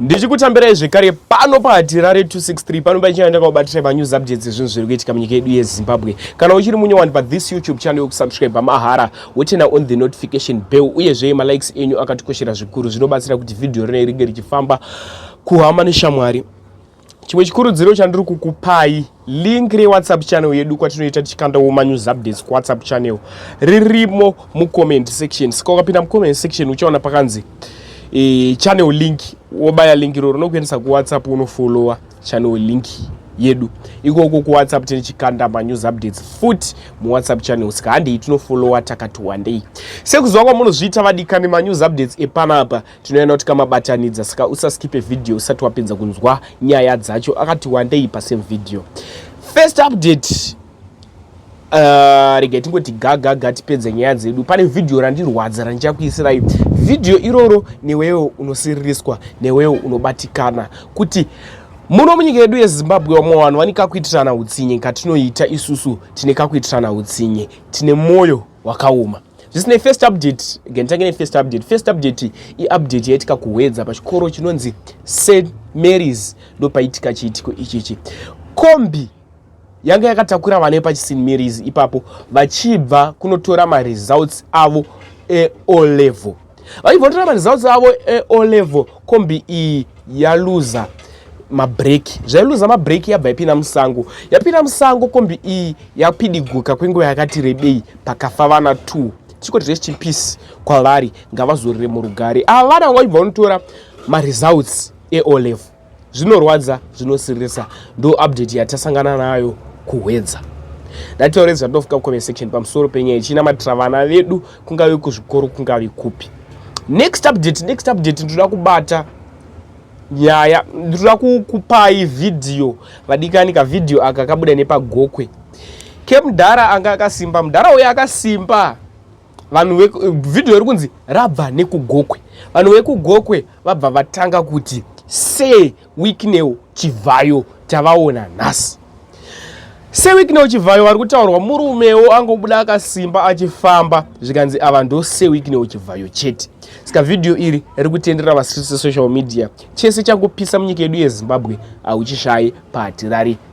ndichikutambirai zvekare pano pahatirare 263 pano paichina ndakakubatirei manews updates ezvinhu zviri kuitika munyika yedu yezimbabwe kana uchiri munyowani pathis youtube channel yokusubscribe mahara wotena on the notification bell uyezve malikes enyu akatikoshera zvikuru zvinobatsira kuti vhidhiyo rinei ringe richifamba kuhama neshamwari chimwe chikurudziro chandiri kukupai link rewhatsapp channel yedu kwatinoita tichikandawo manews updates kuwhatsapp channel ririmo mucomment section saka ukapinda mucomment section uchaona pakanzi e, channel link wobaya link iro rinokuendesa kuwhatsapp unofollowa channel link yedu ikoko kuwhatsapp tine chikanda manews updates futi muwhatsapp channel saka handei tinofollowa takati wandei sekuziva kwamunozviita vadikani manews updates epanapa tinoenda kuti kamabatanidza saka usaskipe vhidhiyo usati wapedza kunzwa nyaya dzacho akati wandei pasame vhidhiyo first update uh, regai tingoti gagaga tipedze nyaya dzedu pane vhidhiyo randirwadza randichakuisirai vhidhiyo iroro newewo unosiririswa newewo unobatikana kuti muno munyika yedu yezimbabwe vamwe vanhu vane kakuitirana utsinye katinoita isusu tine kakuitirana utsinye tine mwoyo wakaoma zvisinei first update ngentange nefirst update first update iupdate yaitika kuhwedza pachikoro chinonzi st marys ndopaitika chiitiko ichichi kombi yanga yakatakura vana vepachisint marys ipapo vachibva kunotora maresults avo eolevel vaivhotera maresults avo eo level kombi iyi yaluza mabreki zvailuza mabreki yabva yapinda musango yapinda musango kombi iyi yapidiguka kwenguva yakati rebei pakafa vana two tichikoti rest in peace kwavari ngavazorire murugare ava vana vanga vachibva vanotora maresults eo level zvinorwadza zvinosiririsa ndo update yatasangana nayo kuhwedza ndataure zvandinofika kucomment section pamusoro penyaya ichinamatirira vana vedu kungave kuzvikoro kungave kupi next update next update ndinoda kubata nyaya ndinoda kukupai vhidhiyo vadikani kavhidhiyo aka kabuda nepagokwe kemudhara anga akasimba mudhara uyo akasimba vanhu vhidhiyo iri kunzi rabva nekugokwe vanhu vekugokwe vabva vatanga kuti se wikneo chivhayo tavaona nhasi se wikneo chivhayo vari kutaurwa murumewo angobuda akasimba achifamba zvikanzi ava ndo se wikneo chivhayo chete saka vhidhiyo iri riri kutenderera vasisi social media chese chakupisa munyika yedu yezimbabwe hauchishayi pahatirari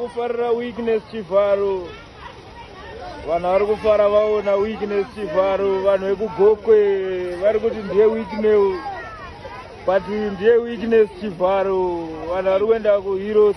kufarira weakness chivharo vanhu vari kufara vaona weakness chivharo vanhu vekugokwe vari kuti ndiye weakness but ndiye weakness chivharo vanhu vari kuenda kuheroes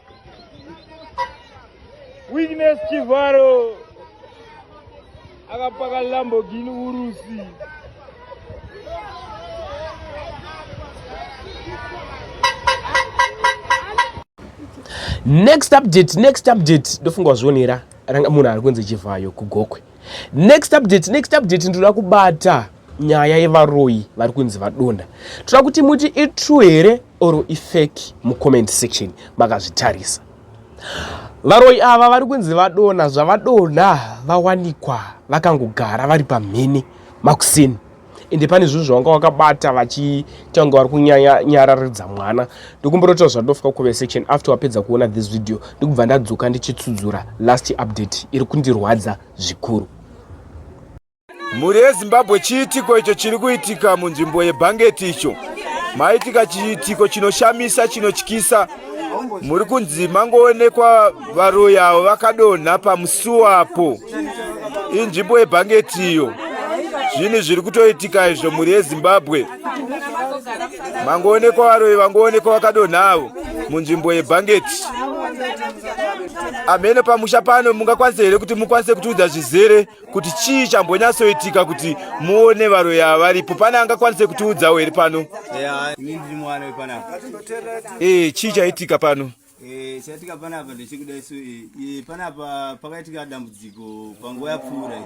Witness Chivharo akapaka Lamborghini Urusi. Next update, next update ndofunga wazvionera munhu ari kunzi Chivhayo kugokwe. next update next update ndoda kubata nyaya yevaroyi vari kunzi vadonda toda kuti muti itrue here or ifeki mucomment section makazvitarisa varoyi ava vari kunzi vadona zvavadona vawanikwa vakangogara vari pamhene makuseni ende pane zvinhu zvavanga wakabata vachiita kunge vari kunyararidza mwana ndokumborota zvandofika kuve section after wapedza kuona this video ndikubva ndadzoka ndichitsudzura last update iri kundirwadza zvikuru mhuri yezimbabwe chiitiko icho chiri kuitika munzvimbo yebhangeti icho maitika chiitiko chinoshamisa chinotyisa muri kunzi mangoonekwa varoyi avo vakadonha pamusuwa apo inzvimbo yebhangeti iyo zvinhu zviri kutoitika izvo mhuri yezimbabwe mangoonekwa varoyi vangoonekwa vakadonha avo munzvimbo yebhangeti amhene pamusha pano mungakwanise here kuti mukwanise kutiudza zvizere kuti chii chambonyatsoitika kuti muone varoyi ava varipo pane angakwanise kutiudzawo here pano e chii chaitika pano eh, chaitika panapa ndechekuda isu eh, panapa pakaitika dambudziko panguva yapfuura i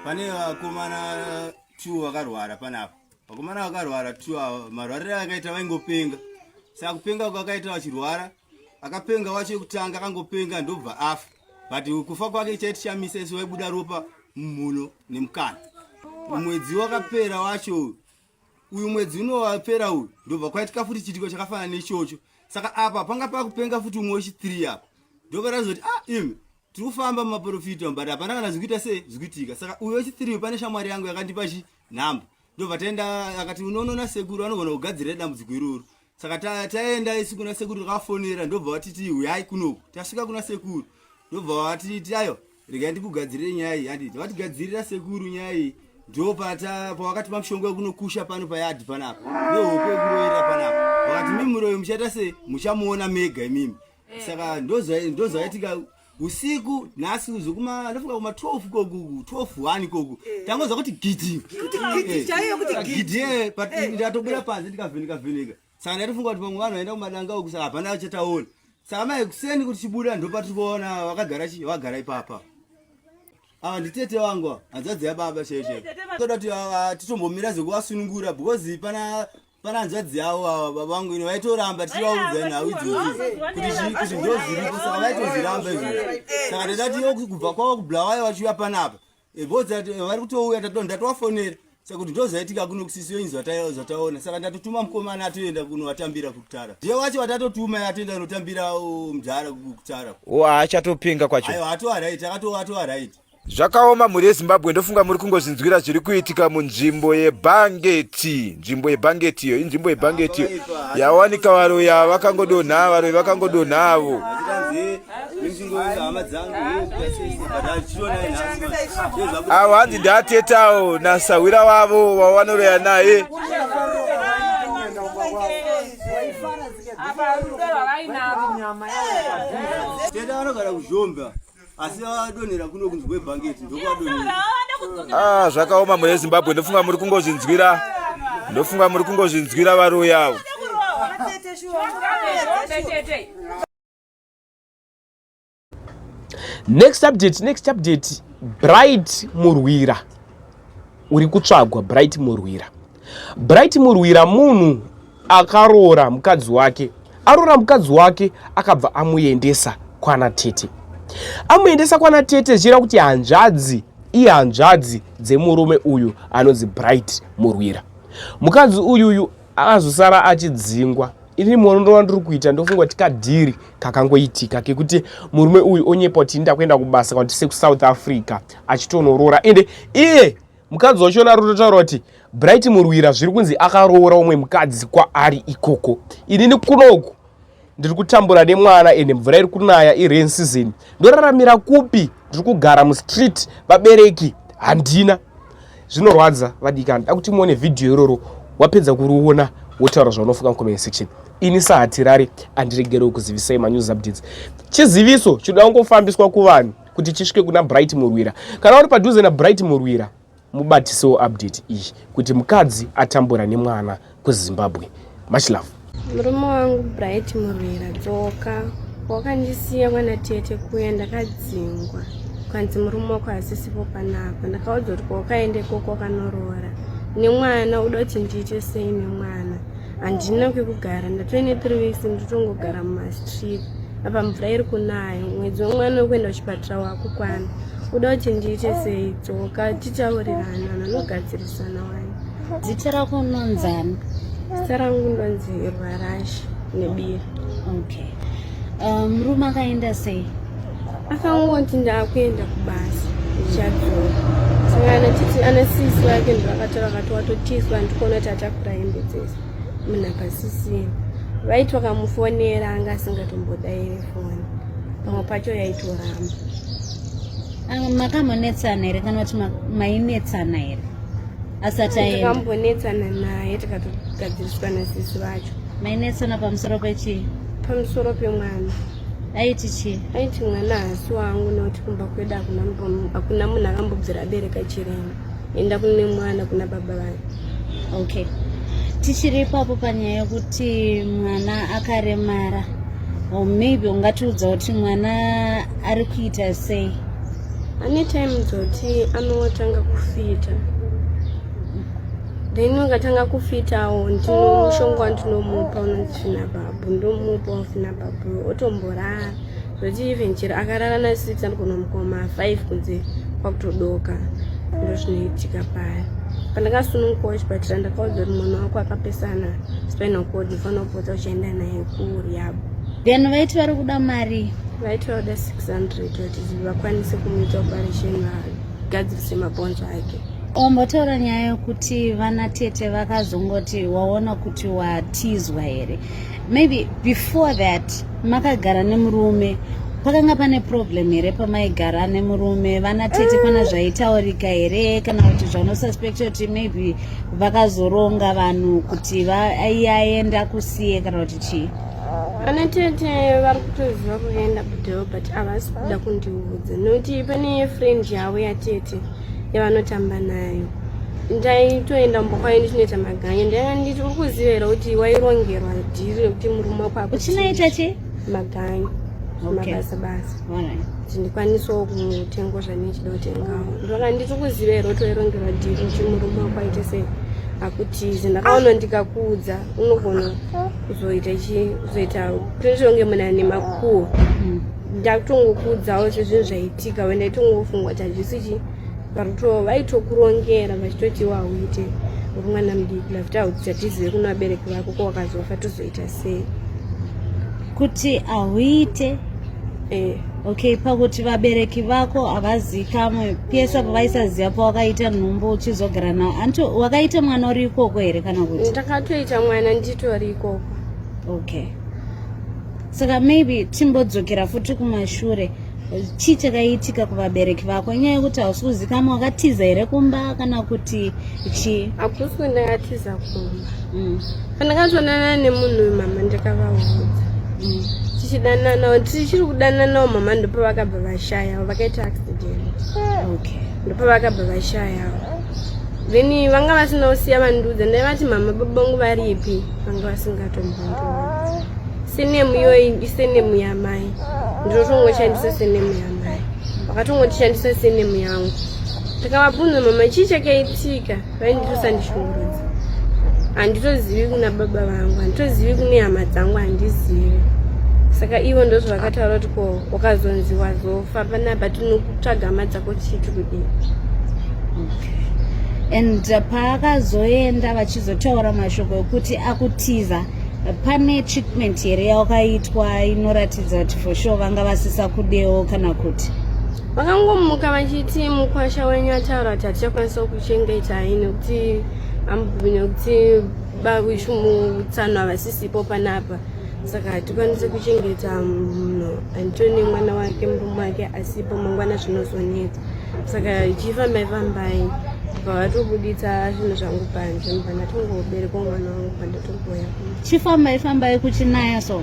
pane vakomana two vakarwara panapa vakomana vakarwara two ava marwarire akaita vaingopenga saka kupenga kwakaita vachirwara akapenga wacho yekutanga akangopenga ndobva afa but kufa kwake chaitishamisa isu vaibuda ropa mumhuno nemukana mwedzi wakapera wacho uyu uyu mwedzi unowapera uyu ndobva kwaitika futi chiitiko chakafanana nechocho saka apa panga pakupenga futi umwe wechithree apa ndobva razoti ah imi tiri kufamba mumaprofita but hapana kana zvikuita sei zvikuitika saka uyu wechithree pane shamwari yangu yakandipa chi nhamba ndobva taenda akati unonona sekuru anogona kugadzirira dambudziko iroro saka taenda isi kuna sekuru takafonera ndobva vatiti huyai kunoku tasvika kuna sekuru ndobva vatiti ayo regai ndikugadzirire nyaya iyi handiti vatigadzirira sekuru nyaya iyi ndo pavakatipa mushonga wekunokusha pano payadhi panapa nehoko yekuroyera panapa vakati mimi muroyo muchaita se muchamuona mega imimi eh. saka ndozvaitika usiku nhasi uzo kuma ndofunga kuma 12 koku 12 1 koku eh. tangoza kuti gidi kuti gidi eh. chaiyo kuti gidi eh but eh. ndatobuda panze ndikavheneka vheneka saka ndatofunga kuti vamwe vanhu vaenda kumadanga uku saka hapana vachataona saka mai kuseni kuti chibuda ndopa tiri kuona vakagara chi vagara ipapa ava nditete wangu hanzadzi yababa chaiyo chaiyo toda kuti ah, ah, titombomira zvekuvasunungura because pana Pana hanzvadzi yavo ava baba vangu ini vaitoramba tichivaudza nhau idzozi kuti zvi- kuti ndo zviripo saka vaitozviramba izvozvo saka tatati yo kubva kwavo kubulawayo vachiuya panapa Eh, both that, eh, vari kutouya tato- ndatovafonera saka kuti ndo zvaitika kuno kusisiyo inzi zvata- zvataona saka ndatotuma mukomana atoenda kunovatambira kukutara ndiye wacho vatatotuma atoenda kunotambira oh, mudhara kukutara uwo haachatopinga kwacho aiwa atoaraiti akatowa atoaraiti Zvakaoma mhuri yeZimbabwe ndofunga muri kungozinzwira zviri kuitika munzvimbo yebhangeti. Nzvimbo yebhangeti iyo inzvimbo yebhangeti iyo yawanika varoyi ava vakangodonha varoyi vakangodonha avo. Avo hanzi ndatetawo nasahwira wavo wawanoroya naye. Teta anogara kuzhomba. asi vadonhera kuno kunzi kwebhangeti ndokwadonhera ah zvakaoma mune zimbabwe ndofunga muri kungozvinzwira ndofunga muri kungozvinzwira varoyi avo next update next update bright murwira uri kutsvagwa bright murwira Bright Murwira munhu akaroora mukadzi wake aroora mukadzi wake akabva amuendesa kwana tete amuendesa kwana tete zvichireva kuti hanzvadzi ihanzvadzi dzemurume uyu anonzi bright murwira mukadzi uyuyu akazosara achidzingwa ini muono ndova ndiri kuita ndofunga kuti kadhiri kakangoitika kekuti murume uyu onyepa kuti ndakuenda kubasa kwandise kusouth africa achitonoroora ende iye mukadzi wacho ari kutotaura kuti bright murwira zviri kunzi akaroora umwe mukadzi kwaari ikoko inini kunoku ndiri kutambura nemwana ende mvura iri kunaya irain season ndoraramira kupi ndiri kugara mustreet vabereki handina zvinorwadza vadikana nda kuti muone vhidhiyo iroro wapedza kuriona wotaura zvaunofunga mucomment section ini sahatirari andiregerewo kuzivisai manews updates chiziviso chinoda kungofambiswa kuvanhu kuti chisvike kuna bright murwira kana uri padhuze nabright murwira mubatisewo update iyi kuti mukadzi atambura nemwana kuzimbabwe much love murume wangu bright murwira dzoka wakandisiya kwana tete kuya ndakadzingwa kwanzi murume wako hasisipo panapa ndakaudzwa kuti kwaukaendekoko wakanoroora nemwana uda kuti ndiite sei nemwana handina kwekugara ndatoine three weeks ndotongogara mumastreet apa mvura iri kunaya mwedzi wemwana wekuenda kuchipatara wakukwana kuda kuti ndiite sei dzoka titaurirana vanogadzirisana wani dzita rako unonzani dzita rangu ndonzi rwarashi nebiri okay um, murume um, akaenda sei akangoti ndakuenda kubasa ndichadzoka saka anachiti ana sisi vake ndivakataura vakati watotiswa ndikuona kuti atakura hembe dzese munhu akasisina vaiti vakamufonera anga asingatombodaire foni pamwe pacho yaitoramba makamonetsana here kana kuti mainetsana here asati aendambonetsana naye tikatogadziriswa nasisi vacho mainetsana pamusoro pechii pamusoro pemwana aiti chii aiti mwana hasi wangu nekuti kumba kwedu hakuna munhu akambobvira abereka chirema enda kune mwana kuna baba vangu okay tichiri ipapo panyaya yekuti mwana akaremara or maybe ungatiudza kuti mwana ari kuita sei ane time dzoti anotanga kufita then ungatanga kufitawo ndinomushonga wandinomupa unonzi fina babu ndomupa wafina bro otomborara zvoti even chero akarara na six anogona mukoma five kunze kwakutodoka ndo zvinoitika paya pandakasununguka wachipatira ndakaudza kuti mwana wako akapesana spinal cord ufanira kupota uchienda naye kuryabo then vaiti vari kuda mari vaiti vakuda 600 kuti vakwanise kumuita operation vagadzirise mabhonzo ake ombotaura nyaya yokuti vana tete vakazongoti waona kuti watizwa here maybe before that makagara nemurume pakanga pane problem here pamaigara nemurume vana tete pana eh. zvaitaurika here kana kuti zvaunosuspecta kuti maybe vakazoronga vanhu kuti aiaenda kusiye kana kuti chii vana tete vari kutoziva kuenda kudeo but havasi kuda kundiudza nokuti pane friend yavo yatete yavanotamba nayo ndaitoenda mumba kwayo ndichinoita maganya ndaiva nditi uri kuziva here kuti wairongerwa dhiri rekuti murume wako akuchinoita che maganya mabasa basa kuti ndikwanisewo kutengo zvandinechida kutengawo ndoka nditi kuziva here kuti wairongerwa dhiri kuti murume wako aite sei hakutize ndakaona ndikakuudza unogona kuzoita chi kuzoita prinzonge muna nemakuwo mm. ndakutongokuudzawo sezvinhu zvaitika we ndaitongofungwa kuti hazvisi chi varuto vaitokurongera vachitoti wauite uri mwana mudiki lakuti hauti tatizive kuno vabereki vako ko wakazofa tozoita sei kuti hauite eh. okay pakuti vabereki vako havazikamwe pese apo vaisaziva pawakaita nhumbu uchizogara navo anto wakaita mwana uri ikoko here kana kuti ndakatoita mwana nditori ikoko okay saka maybe timbodzokera futi kumashure chii chakaitika kuvabereki vako inyaya yekuti hausi kuzikama wakatiza here kumba kana kuti chii hakusi kwendakatiza kumba mm. pandakatonana nemunhu uyu mama ndakavaudza mm. tichidananawo tichiri kudananawo mama ndopa vakabva vashayawo vakaita accident ndopa vakabva vashayawo then vanga vasina kusiya vandiudza ndaivati mama babangu varipi vanga vasingatombondi senemu iyoyi isenemu yamai ndinotongoishandisa senemu yamai vakatongotishandisa senemu yangu ndikavabvunza mama chii chakaitika vaindirosa ndichiurudza handitozivi kuna baba vangu handitozivi kune hama dzangu handizivi saka ivo ndozvo vakataura kuti ko wakazonzi wazofa panapa tinokutsvaga hama dzako chiti kudii and paakazoenda vachizotaura mashoko ekuti akutiza pane treatment here yakaitwa inoratidza kuti for sure vanga vasisa kudewo kana kuti vakangomuka vachiti mukwasha wenyu ataura kuti hatichakwanisa kuchengeta ini kuti ambubine kuti bakuchumutsano havasisipo panapa saka hatikwanisi kuchengeta munhu antoni mwana wake murume wake asipo mangwana zvinozonetsa saka chifambai fambai bva vatobuditsa zvinhu zvangu panze mubva ndatongoberekwa mwana wangu chifambai fambai kuchinaya so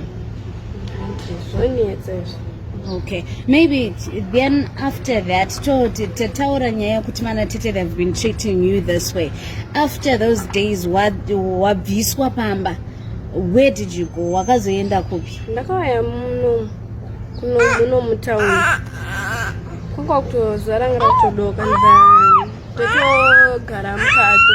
zvonetsa izvi okay maybe then after that toti tataura nyaya kuti mana tete they've been treating you this way after those days wabviswa pamba where did you go wakazoenda kupi ndakauya muno kuno muno mutauni kwanga kutozvarangira kutodoka nda totogara mukati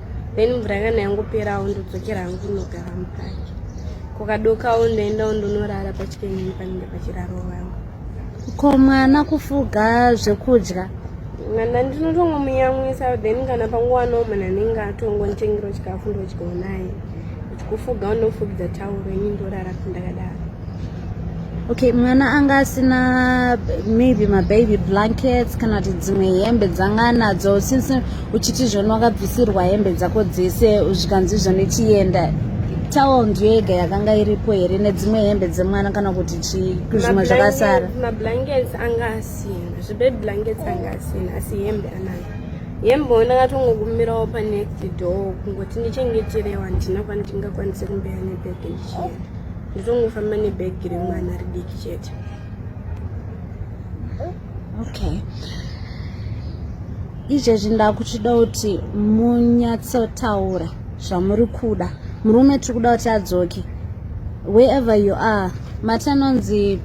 then mvura kana yangoperawo ndodzokera hangu ndinogara mukati kukadokawo ndoendawo ndonorara pachikenyini panenge pachiraro vangu ko mwana kufuga zvekudya mwana ndinotongomuyamwisa then kana panguva no mwana anenge atongonditengero chikafu ndochigona naye kufuga unofugidza tauro ini ndorara kundakadaro okay mwana anga asina maybe mababy blankets kana kuti dzimwe hembe dzanga nadzo since uchiti zvoni wakabvisirwa hembe dzako dzese zvikanzi zvoni chienda towel ndiyo yega yakanga iripo here nedzimwe hembe dzemwana kana kuti chii zvimwe zvakasara mablankets anga asina zvibaby blankets anga asina asi hembe anayo hembe ona akatongokumirawo panext door kungoti ndichengeterewa handina kwandingakwanise kumbeya nebhege ndizongofamba nebhegi remwana ridiki chete okay izvezvi ndakuchida kuti munyatsotaura zvamuri kuda murume tiri kuda kuti adzoke wherever you are mati anonzi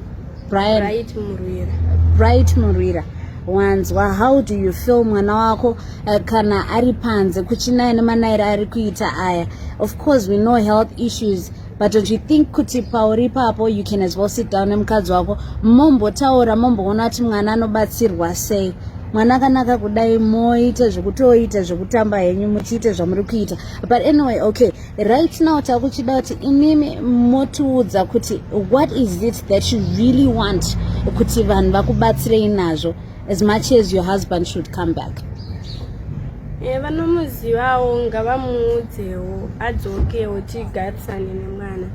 Brian. Bright Murwira. Bright Murwira. wanzwa how do you feel mwana wako uh, kana ari panze kuchinaya nemanaira ari kuita aya of course we know health issues but don't you think kuti pauri ipapo you can as well sit down nemukadzi wako mombotaura momboona kuti mwana anobatsirwa sei mwana akanaka kudai moita zvekutoita zvekutamba henyu muchiita zvamuri kuita but anyway okay right now takuchida kuti imimi motiudza kuti what is it that you really want kuti vanhu vakubatsirei nazvo as much as your husband should come back eh, vanomuzivawo ngavamuudzewo adzokewo tigarisane nemwana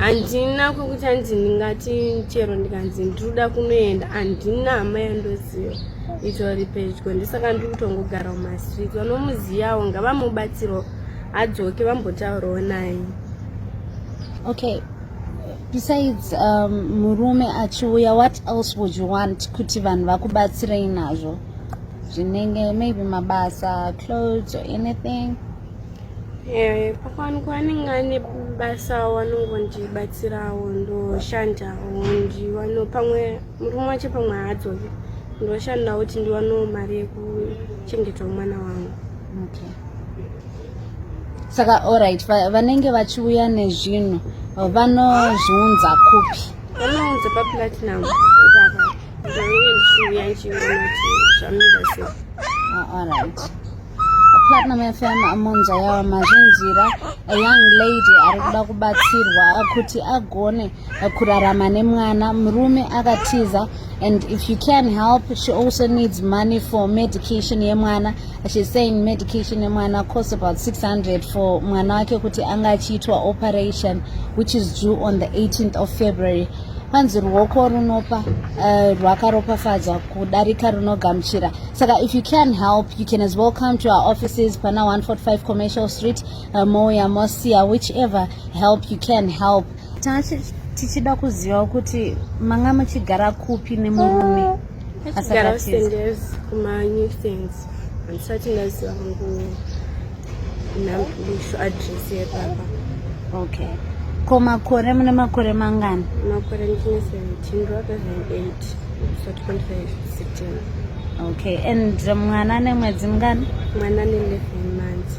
handina kwekuti hanzi ndingati chero ndikanzi ndiriuda kunoenda handina hama yandoziva itori pedyo ndisaka ndiri kutongogara mumastreet vanomuziyawo ngavamubatsirwa adzoke vambotaurawo naye okay besides um, murume achiuya what else would you want kuti vanhu vakubatsirei nazvo zvinenge maybe mabasa clothes or anything eh, pakwanikwa anenge ane basa wanongondibatsirawo ndoshandawo ndiwano pamwe murume wacho pamwe haadzoki ndoshandawo kuti ndiwanewo mari yekuchengetwa mwana wangu okay. saka orit vanenge vachiuya nezvinhu vanozviunza kupi vanounza paplatinum vanenge ndichiuya ndichiona kuti zvamira sei ah, orit platinum fm amonza yawa mazvinzira a young lady ari kuda kubatsirwa kuti agone kurarama nemwana murume akatiza and if you can help she also needs money for medication yemwana She's saying medication yemwana cost about 600 for mwana wake kuti anga achiitwa operation which is due on the 18th of February. Kwanzi ruoko runopa uh, rwakaropafadzwa kudarika runogamuchira. Saka if you can help, you can as well come to our offices pana 145 Commercial Street, uh, Moya Mosia, whichever help you can help. Tichida kuziva kuti manga muchigara kupi nemurume. Achigara usenders kuma new things handisati ndaziva hangu nambiso address yepapa okay ko makore mune makore mangani makore ndine 17 ndovaka 28 sati 25 16 okay and mwana nemwedzi mngani mwana ne 11 months